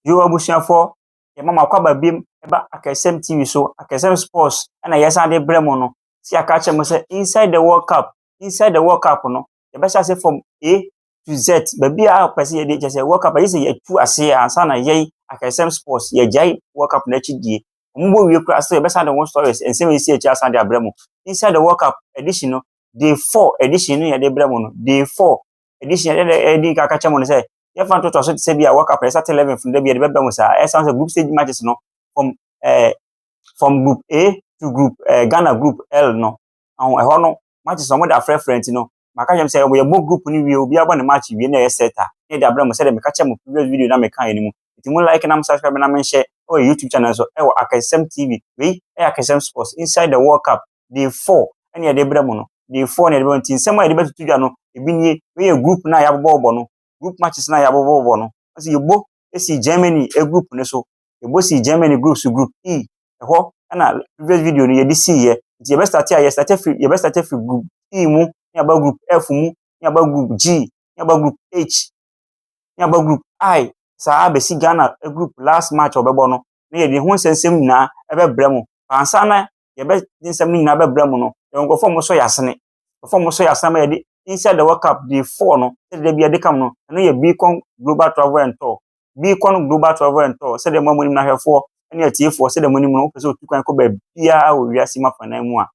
Yoo abusuafoɔ, yɛma mo akwaba biom ɛba Akɛsɛm TV so, Akɛsɛm Sports ɛna yɛsan de brɛ mo no. Sɛ yɛaka akyerɛ mo sɛ Inside the World Cup, Inside the World Cup no, yɛbɛhyɛ ase from A to Z, baabiara a wopɛ sɛ yɛde, kyerɛ sɛ World Cup agye sɛ yɛatu ase ansa na yɛn Akɛsɛm Sports, yɛagyae World Cup no akyi die. Wɔn bɔ wie koraa, still yɛbɛsan de ho stories, nsɛm a ɛsii akyire asan de abrɛ mo. Inside the World Cup edition no, day four edition no yɛde brɛ mo no, day four, addition ɛdɛ na ɛdi nka kakyɛ mo no sɛ yɛfa ntotoa so te sɛ bi a wɔka pɛrɛ sat 11 funu da bi a ɛbɛbɛ mo saa ɛsan sɛ group stage matches no from ɛɛ from group a to group ɛɛ eh, ghana group l no ɔho ɛhɔ no matches wɔn de afrɛfrɛ nti no maka kyɛm sɛ wɔyɛ bɔ group no wie obi abɔ ne match wie na ɛyɛ set a na ɛde abrɛ mo sɛ de meka kyɛ mo previous video na meka yɛ no mu nti mo like na mo subscribe na mo nhyɛ ɛwɔ youtube channel so ɛwɔ akɛsɛm tv wei ɛyɛ akɛsɛm sports inside the world cup day four ɛna yɛde brɛ mo no day four na yɛde brɛ mo nti nsɛm a yɛde bɛtoto dwa no ebi nie wei yɛ group no a yɛabobɔbɔ no group matches no a yɛabobɔbɔ no ɛsɛ yɛbɔ esi Germany group no so yɛbɔ si Germany group so group E ɛhɔ ɛna previous video no yɛde si yɛ nti yɛbɛ start a yɛ start firi yɛbɛ start firi group E mu ne aba group F mu ne aba group G ne aba group H ne aba group I saa abɛsi Ghana group last match ɔbɛbɔ no na yɛde ho nsɛnsɛm nyinaa ɛbɛbrɛ mo ansa na yɛbɛ de nsɛm no nyinaa bɛbrɛ mo no, yɛwɔ nkurɔfoɔ a wɔsɔ yɛn asene. Nkurɔfoɔ a wɔsɔ yɛn asene ama yɛde Inside the World Cup Day 4 no, sɛdeɛ bi yɛde ka mo no, ɛno yɛ Beacon Global Travel and Tour. Beacon Global Travel and Tour, sɛdeɛ mo a monim no ahwɛfoɔ ne atiefoɔ, sɛdeɛ monim no, wopɛ sɛ wotu kwan kɔ baabiara wɔ wiase mu afanan mu a,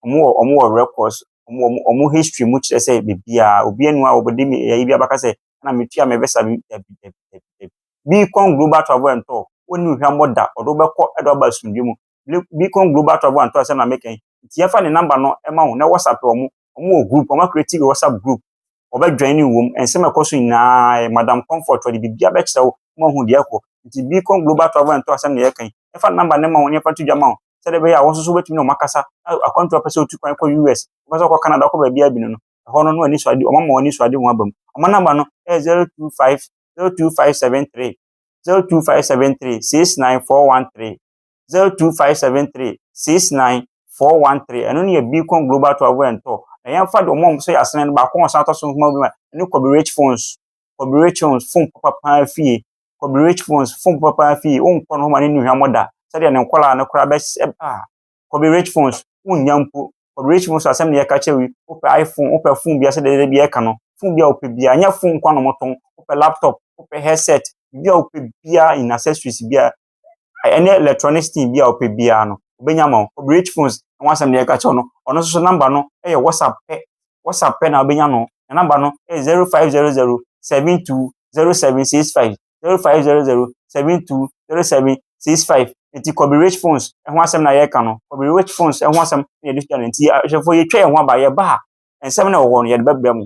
wɔn wɔ wɔn wɔ records, wɔn wɔ wɔn wɔn history mu kyerɛ sɛ baabiara, obi anu a wɔde me ɛyɛ bi abaka sɛ na metua me visa bi dabi dabi dabi dabi. Beacon Global Travel and Tour, wɔnni hwammɔ da, wɔde wobɛkɔ ɛde waba asomdwe mu. Beacon Global Travel and Tour sɛ na meka yi nti yɛfa ne number no ma wo na whatsapp wɔn wɔn wɔ group wɔn akreti wɔ whatsapp group wɔbɛ join ne wɔm nsɛm ɛkɔ so nyinaa madam comfort wɔde biribi abɛkyerɛ wo ma hu deɛ ɛkɔ nti Beacon Global Travel and Tour sɛm na yɛka yi yɛfa ne number no ma wo ne yɛfa to dwa ma wo sɛdeɛ bɛyɛ a wɔn nso so wobɛtumi ne wɔn akasa akwantu apɛ sɛ otu kwan kɔ US wɔpɛ sɛ ɔkɔ Canada ɔkɔ baabi abinu no ɛhɔ no no ani so ade wɔn ama wɔn ani so ade wɔn aba mu wɔn number no ɛyɛ zero two five zero two five seven three zero two five seven three six nine four one three zero two five seven three six nine four one three ɛno ne yɛ beacon global travel and tour na yɛmfa deɛ ɔmo a ɔmo sɛ yɛasene no baako a ɔsan atɔ so nhoma bi ma ɛne kɔbi rich phones kɔbi rich phones phone papa paa fie kɔbi rich phones phone papa paa fie wonkɔ no homa ne nnuhwamɔ da sɛdeɛ ne nkɔlaa no koraa bɛs ɛb a kɔbi rich phones wonnya mpo kɔbi rich phones asɛm ne yɛka kyerɛ wi wopɛ iphone wopɛ phone bia sɛdeɛ dɛdɛ bi ɛka no phone bia wopɛ bia nyɛ phone nkwa no motɔn wopɛ laptop wopɛ headset bia wopɛ bia in accessories bia ɛnyɛ electronic thing biara ɔpɛ biara no ɔbɛnya ama wo. Rich phones ho asɛm deɛ yɛka kyerɛ no, ɔno nso so number no yɛ WhatsApp pɛ, WhatsApp pɛ na wobɛnya no. Ne number no yɛ 0500720765, 0500720765. Nti Kɔbe Rich phones ho asɛm na yɛreka no, Kɔbe Rich phones ho asɛm na yɛde susuɛ no. Nti ahwɛfoɔ yɛtwa yɛn ho aba, yɛba a, nsɛm na ɛwɔ hɔ no yɛde bɛbrɛ mo.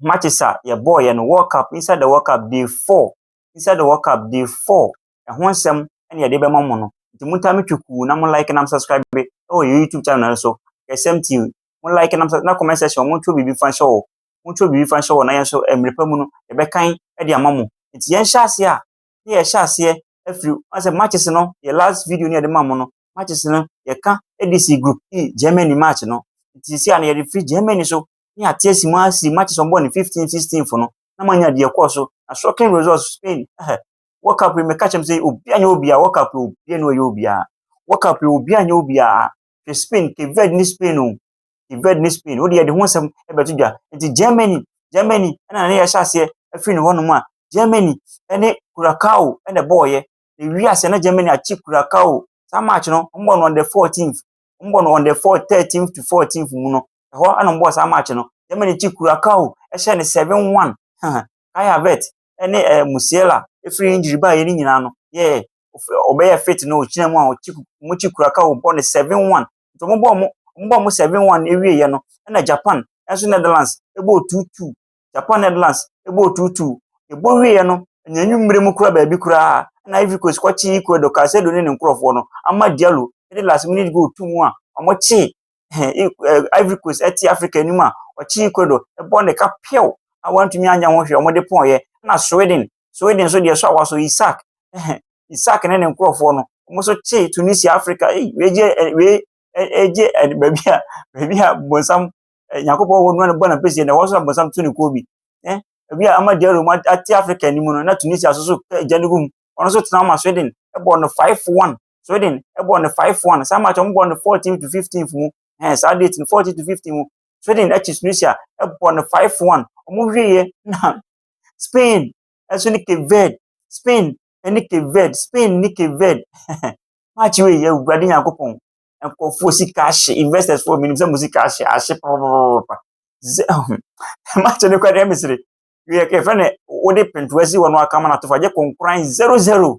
matches a yɛbɔeɛ no, World Cup, inside the World Cup day four, inside the World Cup day four, ɛho nsɛm ɛna yɛde bɛma mo no. Nti mo taa me twekuu na mo like na mo subscribe be ɛwɔ yɛ YouTube channel no so. Yɛsɛm ti mo like na mo na comment section mo ntwerɛ biribi fa nhyɛ hɔ. Mo ntwerɛ biribi fa nhyɛ hɔ na yɛn nso mmerɛ pa mu no yɛbɛkan de ama mo. Nti yɛn hyɛ aseɛ a ne yɛhyɛ aseɛ afiri asɛ matches no yɛ last video ne yɛde ma mo no matches no yɛka ɛde si group E Germany match no. Nti sisi a no yɛde firi Germany so ne ate asi mu asi matches wɔn bɔ ne fifteen sixteen fo no na manya deɛ ɛkɔɔ so na shocking results spain ɛhɛ world cup yi meka kyɛm sɛ obia nyɛ obia world cup yi obia ne ɔyɛ obia world cup yi obia nyɛ obia hwɛ spain cape verde ne spain o cape verde ne spain o deɛ de ho nsɛm ɛbɛto dwa nti germany germany ɛna ne yɛhyɛ aseɛ afiri ne hɔnom a germany ɛne curacao ɛna ɛbɔɔyɛ na ewi aseɛ na germany akyi curacao saa match no wɔn bɔ no on the fourteenth wɔn bɔ no on the four thirteenth to fourteenth mu no Ɛhɔ na wɔbɔɔ saa match no. Germany gye Curacao hyɛɛ no seven one. Kai Havertz ne eh, Musiala firi injury baeɛ no nyinaa no yɛɛ ɔbɛyɛ fit no ɔgyina mu a ɔkyi wɔn kyi Curacao bɔ no seven one. Nti wɔn bɔɔ wɔn wɔn bɔɔ wɔn seven one awieeɛ no ɛna Japan ɛnso Netherlands ɛbɔɔ two two. Japan Netherlands ɛbɔɔ two two. Ɛbɔ wieeɛ no ɛnyɛ nwummere mu kura baabi koraa ɛna Ivory Coast kɔkye Ecuador Caicedo ne ne nkorɔfoɔ no ama Diallo ɛde last minute goal to mu a wɔkye ɛɛ Eng ɛɛ Ivory Coast te Afrika anim a ɔkye Ecuador bɔ ne ka pɛw a wɔantumi anyɛ ho hwee, wɔde pɔɔeɛ. Ɛna Sweden, Sweden nso deɛ ɛsɔ awɔsɔ Isak, ɛhɛ, Isak ne ne nkurɔfoɔ no, wɔn nso kye Tunisia, Afrika. Ei, wei gye ɛ wei ɛ gye ɛ baabi a baabi a bonsam ɛ Nyankopɔn wɔ no na bɔ n'apɛsie na ɛhɔ nso na bonsam to ne kuo bi. Ɛ ebi a ama Diallo mu ate Afrika anim no, na Tunisia nso so gya no gu mu. Wɔn nso tena wɔn Sweden bɔ no 5-1 Sweden bɔɔ no five one saa match wɔn bɔɔ no fourteen to fifteen mu ɛɛ saa date no fourteen to fifteen mu Sweden akyi Tunisia bɔɔ no five one wɔn wieɛ na Spain ɛso ne Cape Verde Spain ne Cape Verde Spain ne Cape Verde match wei yɛ awurade nyankopɔn nkurɔfoɔ sika ahye investors foɔ menim sɛ mo sika ahye ahye papapapa match no kora deɛ mesere yɛfrɛ no wode pentoa si hɔ no akama no atofa gye konkoran zero zero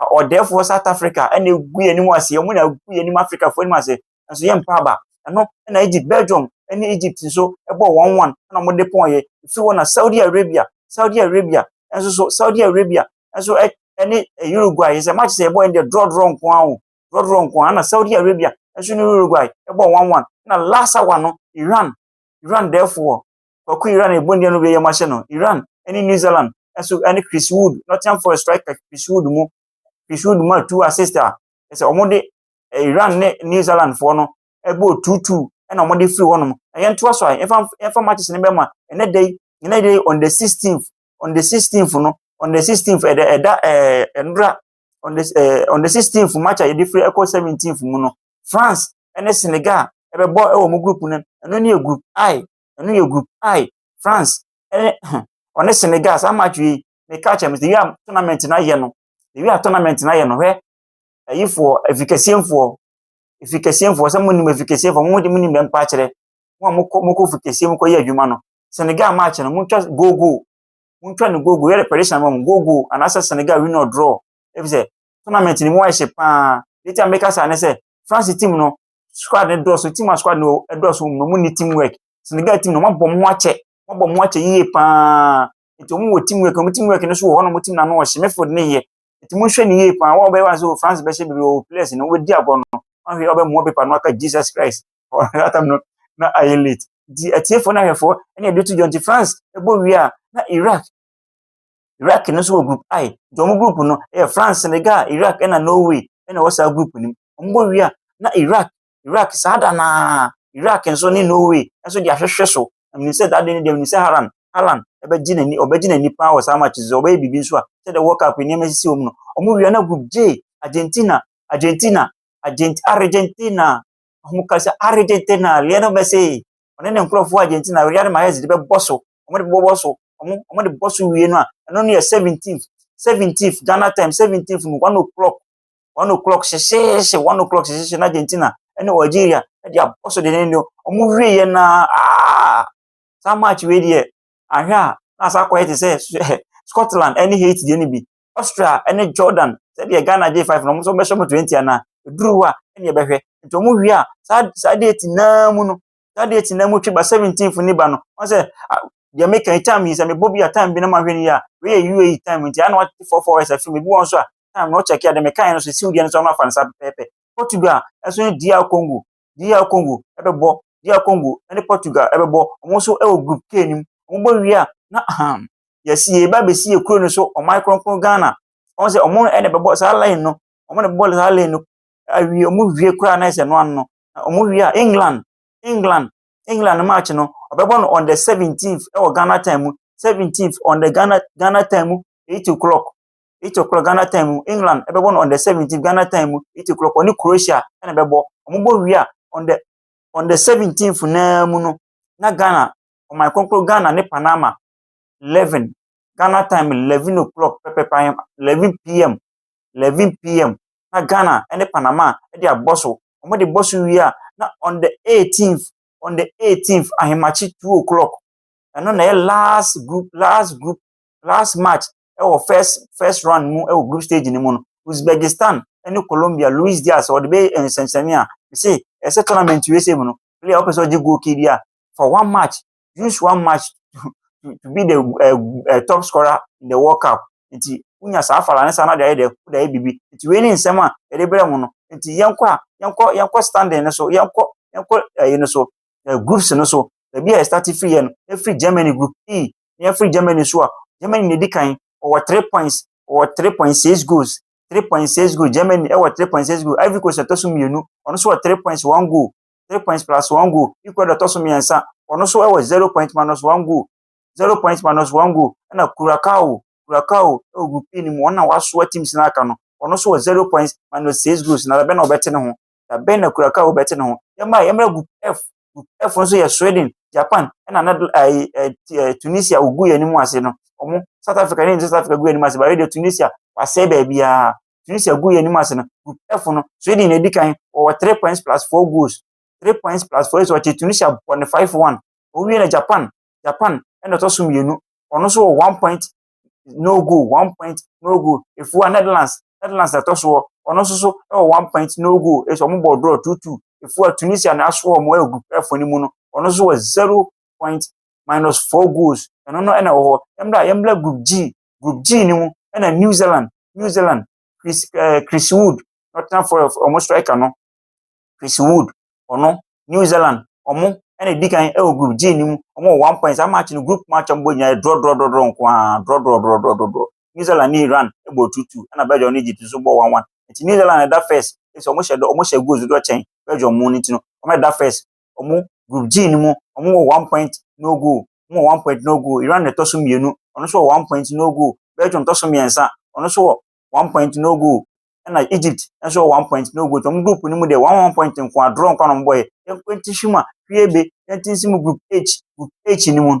ɔdɛɛfoɔ South Africa na ɛgu yɛn anim ase, wɔn na ɛgu yɛn anim Africafoɔ anim ase, nanso yɛn mpa aba. Ɛno na Egypt, Belgium ne Egypt nso bɔɔ wɔn wɔn na wɔde pɔn yɛ. Ɛfiri hɔ na Saudi Arabia, Saudi Arabia nso so, Saudi Arabia nso ne Uruguay yɛ sɛ match sɛ ɛbɔ yɛn deɛ draw draw nko ara o, draw draw nko ara na Saudi Arabia nso ne Uruguay bɔɔ wɔn wɔn na last hour no Iran, Iran dɛɛfoɔ Kwaku Iran a ɛbɔ nnua no wieyɛ mu ahyɛ no, Iran ne New Zealand nso ne Chris Wood, Nottingham Forest striker Chris Wood mu. Chris Wood maa two assist a ɛsɛ wɔn de Iran ne New Zealand foɔ no ɛbɔ two two ɛna wɔn de firi hɔnom. Na yɛn to aso a yɛnfa yɛnfa matches no bɛma ɛnɛ da yi ɛnɛ da yi on the sixteenth on the sixteenth no on the sixteenth ɛda ɛda ɛɛ ɛnura on the ɛɛ on the sixteenth match a yɛde firi ɛkɔ seventeenth mu no France ɛne Senegal ɛbɛbɔ ɛwɔ wɔn group no ɛno ne yɛ group I ɛno yɛ group I, France ɛne ho, ɔne Senegal, saa match wei, meka kyerɛ me sɛ yɛ a tournament no ayɛ no, yɛ a tournament no ayɛ no, hwɛ, ayifoɔ, afikasiefoɔ, afikasiefoɔ, sɛ monim afikasiefoɔ, mo de monim bɛmpa akyerɛ, mo a mokɔ mokɔ afikasiefoɔ mu kɔyɛ adwuma no, Senegal match no, montwa goal goal, montwa no goal goal, yɛ de prediction ma mo, goal goal, anaasɛ Senegal win or draw, ɛfisɛ tournament no mu ayɛ hye paa, deɛ nti a meka saa ne sɛ, France team no, squad no dɔɔso team a squad no dɔɔso wɔn na wɔn ni team work Senegal team na wɔn abɔ wɔn akyɛ wɔn abɔ wɔn akyɛ yie paa nti wɔn wɔ team work wɔn team work no so wɔ hɔ na wɔn team na ano ɔhyɛ midfield ne yɛ nti mo nhwɛ ne yie paa wɔn a wɔbɛyɛ wɔn sɛ France bɛhyɛ bebree wɔ players no wɔbɛdi agorɔ no wɔn ahwɛ wɔbɛ mua paper no aka Jesus Christ wɔn atam no na ayɛ late nti atiefoɔ na ahwɛfoɔ ɛna ebi to dwa nti France ɛbɔ wie a na Iraq Iraq no nso wɔ group I. Nti wɔn group no yɛ France, Senegal, Iraq ɛna Norway ɛna ɛwɔ saa group no mu. Wɔn bɔ wie a na Iraq Iraq saa da naa Iraq nso ne Norway nso de ahwehwɛ so. Ɛmene sɛ that day no deɛ ɛmene sɛ Haran Haran ɛbɛgye n'ani ɔbɛgye n'ani paa wɔ saa match so ɔbɛyɛ biribi nso a sɛ the World Cup nneɛma sisi wɔn no. Wɔn wie a na group J Argentina Argentina Argent Argentina wɔn ka sɛ Argentina Lionel Messi ɔne ne nkurɔfoɔ Argentina Riyad Mahrez de bɛbɔ so wɔde bɛbɔ so, wɔn wɔde bɔ so wie no a, ɛno no yɛ seventeenth. Seventeenth, Ghana time seventeenth no, one o'clock. One o'clock hyehyeehye, one o'clock hyehyeehye na Argentina ne Algeria de abɔ so dendenden. Wɔn wie yɛ na aa, saa match wei deɛ, ahwɛ a, na asa akɔyɛ te sɛ Scotland ne Haiti deɛ no bi. Austria ne Jordan, sɛdeɛ Ghana gye five no, wɔn nso bɛhyɛ wɔn twenty anaa, ɛduru hɔ a, ɛne ɛbɛhwɛ. Nti wɔn wie a, saa, saa date naa mu no, Saa deɛ ti na mu twe ba seventeenth ne ba no. Wɔn sɛ deɛ meka yi time yi sɛ mebɔ bi a time bi na mahwɛ no yie a wei yɛ UAE time nti ana wɔte four four hours afim ebi wɔn nso a time na ɔkyɛke a deɛ meka yɛ no so siw deɛ no so ɔno afa no saa pɛpɛɛpɛ Portugal ɛso ne DR Congo DR Congo ɛbɛbɔ DR Congo ɛne Portugal ɛbɛbɔ wɔn nso ɛwɔ group K nim wɔn bɔ wie a na ahan yɛsi yɛ ba bɛsi yɛ kuro no so ɔman kronkron Ghana wɔn sɛ wɔn ɛna ɛbɛbɔ saa line no wɔn na ɛbɛbɔ saa line no awie wɔn wie koraa na ɛsɛ no ano no Na wɔn wie a England England England no match no ɔbɛbɔ no on the seventeenth ɛwɔ Ghana time mu seventeenth on the Ghana Ghana time mu eight o'clock eight o'clock Ghana time mu England ɛbɛbɔ no on the seventeenth Ghana time mu eight o'clock ɔne Croatia ɛna ɛbɛbɔ wɔn bɔ wie a on the on the seventeenth naa mu no na Ghana ɔman kɔnkɔn Ghana ne Panama eleven Ghana time eleven o'clock pɛpɛpɛ eleven pm 11pm na Ghana ne Panama de abɔ so. Wɔde bɔ so wie a, na on the eighteenth, on the eighteenth ahemakye two o'clock. Ɛno na ɛyɛ last group, last group, last match ɛwɔ first first round mu ɛwɔ group stage no mu no. Uzbekistan ɛne Colombia, Luis Diaz ɔde bɛ nsɛmsɛmia. Ɛsɛ ɛsɛ tournament USA mu no, player ɔpɛ sɛ ɔgye goal key bi a, for one match use one match to to be the uh, uh, top scorer in the world cup nti wonya saa fala ne saa na de ayɛ dɛ wode ayɛ biribi nti wei ne nsɛm a yɛde brɛ mu no nti yɛnkɔ a yɛnkɔ yɛnkɔ standing no so yɛnkɔ yɛnkɔ ɛyi no so uh, groups no so baabi a yɛstart firi yɛ no yɛfiri germany group e na yɛfiri germany so a germany na ɛdi kan ɔwɔ three points ɔwɔ three point six goals three point six goals germany ɛwɔ three point six goals ivory coast ɛtɔ so mmienu ɔno nso wɔ three points one goal three points plus one goal equal dɔ tɔ so mmiɛnsa wɔn nso wɔ zero point minus one goal zero point minus one goal ɛna Curacao Curacao ɛwɔ group E no mu wɔn na wɔasoa teams no aka no wɔn nso wɔ zero points minus six goals na bɛn na wɔbɛte ne ho na bɛn na Curacao bɛte ne ho yɛn mma yɛn mma group F group F nso yɛ Sweden Japan ɛna na ɛɛ ɛɛ Tunisia ogu yɛn anim ase no wɔn South Africa ne South Africa gu yɛn anim ase baabi deɛ Tunisia wasɛe baabiara Tunisia guu yɛn anim ase no, Group F no, Sweden na edi kan, wɔwɔ three points plus four goals. Three points plus four so ɔkyee Tunisia bɔ ne five one. Wɔwie na Japan, Japan ɛna ɔtɔ so mmienu, ɔno nso wɔ one point no goal, one point no goal. Efua Netherlands, Netherlands na ɛtɔ soɔ, ɔno nso so wɔ one point no goal, so wɔn bɔ draw two two. Efua Tunisia na asoɔ wɔn wɔ Group F no mu no, ɔno nso wɔ zero point minus four goals, ɛno no ɛna ɛwɔ hɔ. Yɛmmra, yɛmmra Group G Group G no mu na New Zealand, New Zealand, Chris, uh, Chris Wood, Nottingham Forest, wɔn striker no, Chris Wood, ɔno, New Zealand, wɔn na edi kan wɔ Group G no mu, wɔn wɔ one point, saa match no group match a wɔbɔ nyinaa draw draw draw draw nko ara, draw draw draw draw draw draw. New Zealand ne Iran bɔ two two, ɛna Belgium ne Egypt nso bɔ one one. Nti New Zealand ɛda first, ɛsɛ wɔn hyɛ wɔn hyɛ goals dodo kyɛn Belgium mu no nti no, wɔn ɛda first, wɔn group G no mu, wɔwɔ one point no goal, wɔn wɔ one point no goal. Iran na ɛtɔ so mmienu, wɔn nso wɔ one point no goal. Belgium tɔ so mmiɛnsa, wɔn nso wɔ one point no goal. Ɛna Egypt nso wɔ one point no goal. Wɔn group no mu deɛ wɔn one point nko a draw nko a na wɔn bɔyɛ. Yɛn kwanti hwi mu a hwi ebe yɛn ti nsi mu group H group H no mu.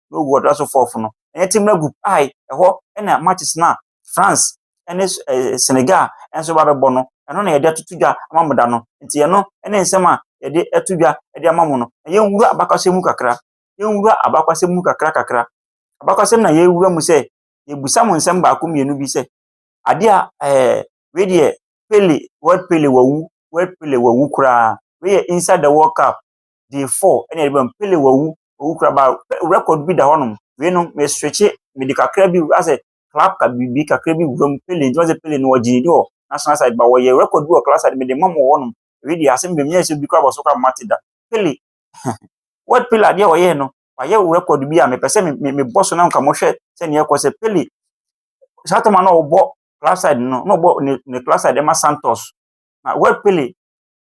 na ogu ɔda so fourth no, ɛnyɛ team no group I, ɛhɔ na matches no a France ne Senegal nso ba bɛbɔ no, ɛno na yɛde atoto dwa ama mo da no. Nti ɛno ne nsɛm a yɛde ato dwa de ama mo no. Na yɛnwura abakwasɛm mu kakra. Yɛnwura abakwasɛm mu kakra kakra. Abakwasɛm na yɛwura mu sɛ yɛbusa mo nsɛm baako mmienu bi sɛ adeɛ a ɛɛ wei deɛ Pele, World Pele wawu, World Pele wawu koraa. Wei yɛ inside the World Cup. day four ɛna yɛde ba mu, Pele wawu, wawu koraa ba record bi da hɔnom, wei no me switche, mede kakra bi asɛ club ka biribi kakra bi wura mu, Pele nti wɔn sɛ Pele no wɔgye ne di wɔ national side, ba wɔyɛ record bi wɔ club side mede ma mu wɔ hɔnom, wei deɛ asɛm bɛm nyɛ sɛ obi koraa bɔ so koraa mate da, Pele, what Pele adeɛ a ɔyɛɛ no, wayɛ record bi a mepɛ sɛ me, me, mebɔ so na nka mohwɛ sɛ neɛ ɛkɔ sɛ Pele, saa tɔma na ɔbɔ club side no, na ɔbɔ ne, ne club side ɛma Santos, na what Pele,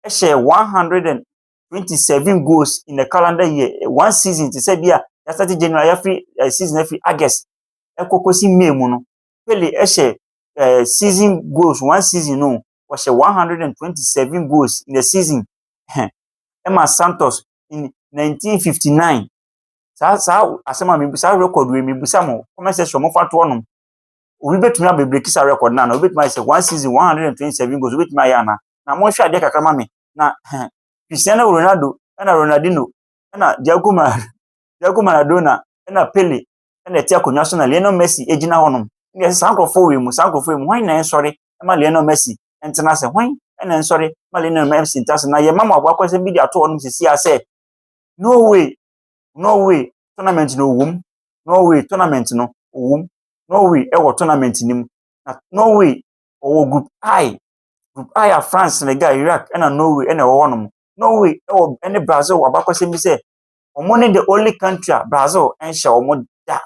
ɛhyɛ 100 and twenty seven goals in a calendar year one season te sɛ bi a yasate january yafiri ɛɛ season afiri august ɛkɔ kɔsi may mu no pele ɛhyɛ ɛɛ season goals one season no wɔhyɛ one hundred and twenty seven goals in a season hɛn ɛma santos in nineteen fifty nine saa saa asɛm a mebu saa record wei mebusa mo comment section mo fa to ɔnom obi betumi abebreki saa record na na obi betumi ayɛ sɛ one season one hundred and twenty seven goals obi betumi ayɛ ana na mo nhwɛ adeɛ kakra ma me na hɛn Christiano Ronaldo na Ronaldinho na Diago Mar Diago Maradona na Pele na ɛtse akonnwa so na Lionel Messi gyina hɔnom. Ndɛ sɛ saa nkorɔfo wɔ mu, saa nkorɔfo wɔ mu, hɔn nyina nsɔre ma Lionel Messi ntsena ase. Hɔn na nsɔre ma Lionel Messi ntsena ase. Na yɛma ma ɔbɔ akɔnsɛm bi dze ato hɔnom sisi a sɛ, Norway, Norway tournament no ɔwɔ mu, Norway tournament no ɔwɔ mu, Norway wɔ tournament no mu, na Norway ɔwɔ group I Dubai a France, Senegal, Iraq ɛna Norway ɛna ɛwɔ hɔnom. Norway ɛwɔ ɛne Brazil wɔ abakɔsɛm bi sɛ wɔn ne the only country a Brazil ɛnhyɛ wɔn da.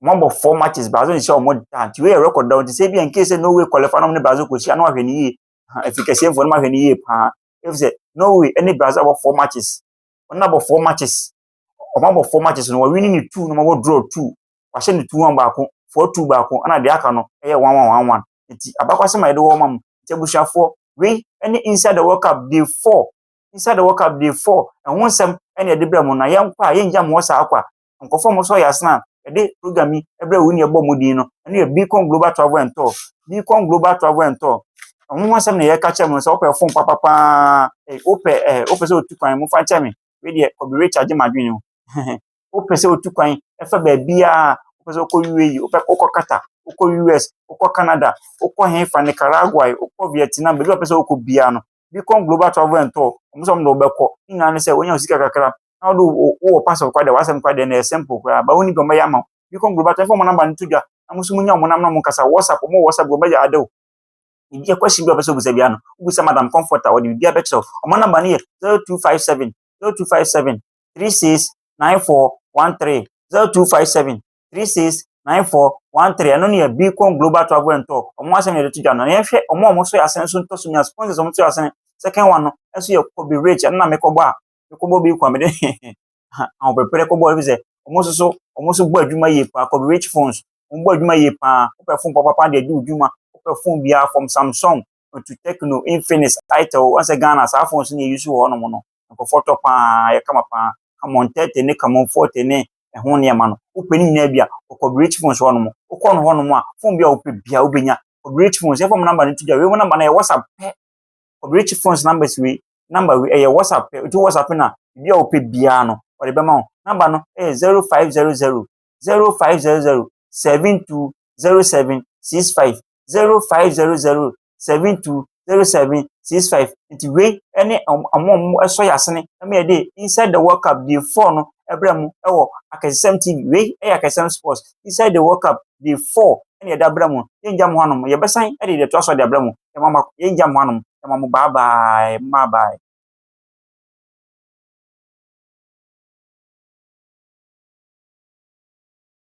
Wɔn abɔ four matches Brazil nhyɛ wɔn da nti wei yɛ record da nti sɛ ebi a nkee sɛ Norway qualify na wɔn ne Brazil kɔ hyia na wɔahwɛ ne yie. Efi kɛseɛfoɔ no ahwɛ ne yie paa. Efi sɛ Norway ɛne Brazil abɔ four matches. Wɔn abɔ four matches. Wɔn abɔ four matches no wɔn winning ne two na wɔn abɔ draw two. Wɔahyɛ ne two one baako four two baako ɛna deɛ aka no ɛyɛ one one one one. Nti abakɔsɛm a yɛde wɔ ma mo. Nti abusuafoɔ, wei ne Inside the World Cup day four. Inside the World Cup day four. Ɛho nsɛm na yɛde brɛ mo na yɛnkɔ a yɛngya mo hɔ saa kwa. Nkurɔfoɔ a wɔsɔ yɛ asena a yɛde program yi brɛ wo ne yɛbɔ mo din no, ɛno yɛ Beacon Global Travel and Tour. Beacon Global Travel and Tour. Ɛho ho asɛm na yɛka kyerɛ mo no sɛ wopɛ fon papapaa, wopɛ ɛɛ wopɛ sɛ otu kwan mo fa kyɛ me. Wei deɛ kɔbi recharge m'adwene o. wopɛ sɛ wotu kwan fa baabiara a wopɛ sɛ wokɔ UAE, wopɛ wokɔ Qatar, wokɔ US, wokɔ Canada, wokɔ hefa, Nicaragua ɛ, wokɔ Vietnam, baabi a wopɛ sɛ wokɔ biara no, Beacon Global Travel and Tour, wɔn sɛ wɔn de wɔbɛkɔ. Ne nyinaa ne sɛ wɔnya wo sika kakra na wode wo wɔ passport kora deɛ w'asɛm kora deɛ na ɛyɛ simple koraa. Ba wonni deɛ wɔbɛyɛ ama wo. Beacon Global Tour, mfa wɔn namba no to dwa na mo nso monya wɔn nam na mo nkasa. WhatsApp, wɔn wɔ WhatsApp, wɔn bɛyɛ ade wo. Biribi a question bi a wopɛ sɛ wobisa biara no, wobisa Madam Comfort a wɔde biribiara bɛkyerɛ wo. Wɔn namba no yɛ 0257 0257 three six nine four one three zero two five seven three six nine four one three ɛno ne yɛ beacon global travel and tour wɔn asɛm yɛde to dwa no na yɛhwɛ wɔn a wɔn so yɛ asɛn nso ntɔ so nya sponsors wɔn so yɛ asɛn second one no ɛso yɛ kobe rich ɛno na mekɔbɔ a mekɔbɔ beacon mede ahopeprɛ kɔbɔ ebi sɛ wɔn nso so wɔn nso bɔ adwuma yie paa kobe rich phones wɔn bɔ adwuma yie paa wɔpɛ phone papapa deɛ di odwuma wɔpɛ phone biara from samsung to techno infinix itel wɔn sɛ ghana saa phones na yɛ use wɔ hɔnom no nkurɔfoɔ tɔ pa ara, ayɛ kama pa ara. Camon 30 ne Camon 40 ne ɛho nneɛma no, wopɛ ne nyinaa bi a, kɔ Kɔberekyyi Phones hɔnom. Wokɔ no hɔnom a, phone biara a wopɛ biara wobɛnya. Kɔberekyyi Phones, yɛmfa wɔn number no nto dwa. Wei wɔn number no ɛyɛ WhatsApp pɛ. Kɔberekyyi Phones numbers wei, number wei ɛyɛ WhatsApp pɛ. Wotu WhatsApp no a, biribi a wopɛ biara no, wɔde bɛma wo. Number no ɛyɛ 0500 0500 720765. zero five zero zero seven two zero seven six five nti wei ɛne ɔmo ɔmo a ɔmo ɛsɔ yasene ɛma yɛde inside the world cup day four no ɛbrɛ mo ɛwɔ akɛsɛm tv wei ɛyɛ akɛsɛm sports inside the world cup day four ɛna yɛde abrɛ mo yɛn gya mo hanom yɛbɛsan ɛde yɛde ɛto aso de abrɛ mo yɛn mo yɛn gya mo hanom yɛn mo bye bye bye bye.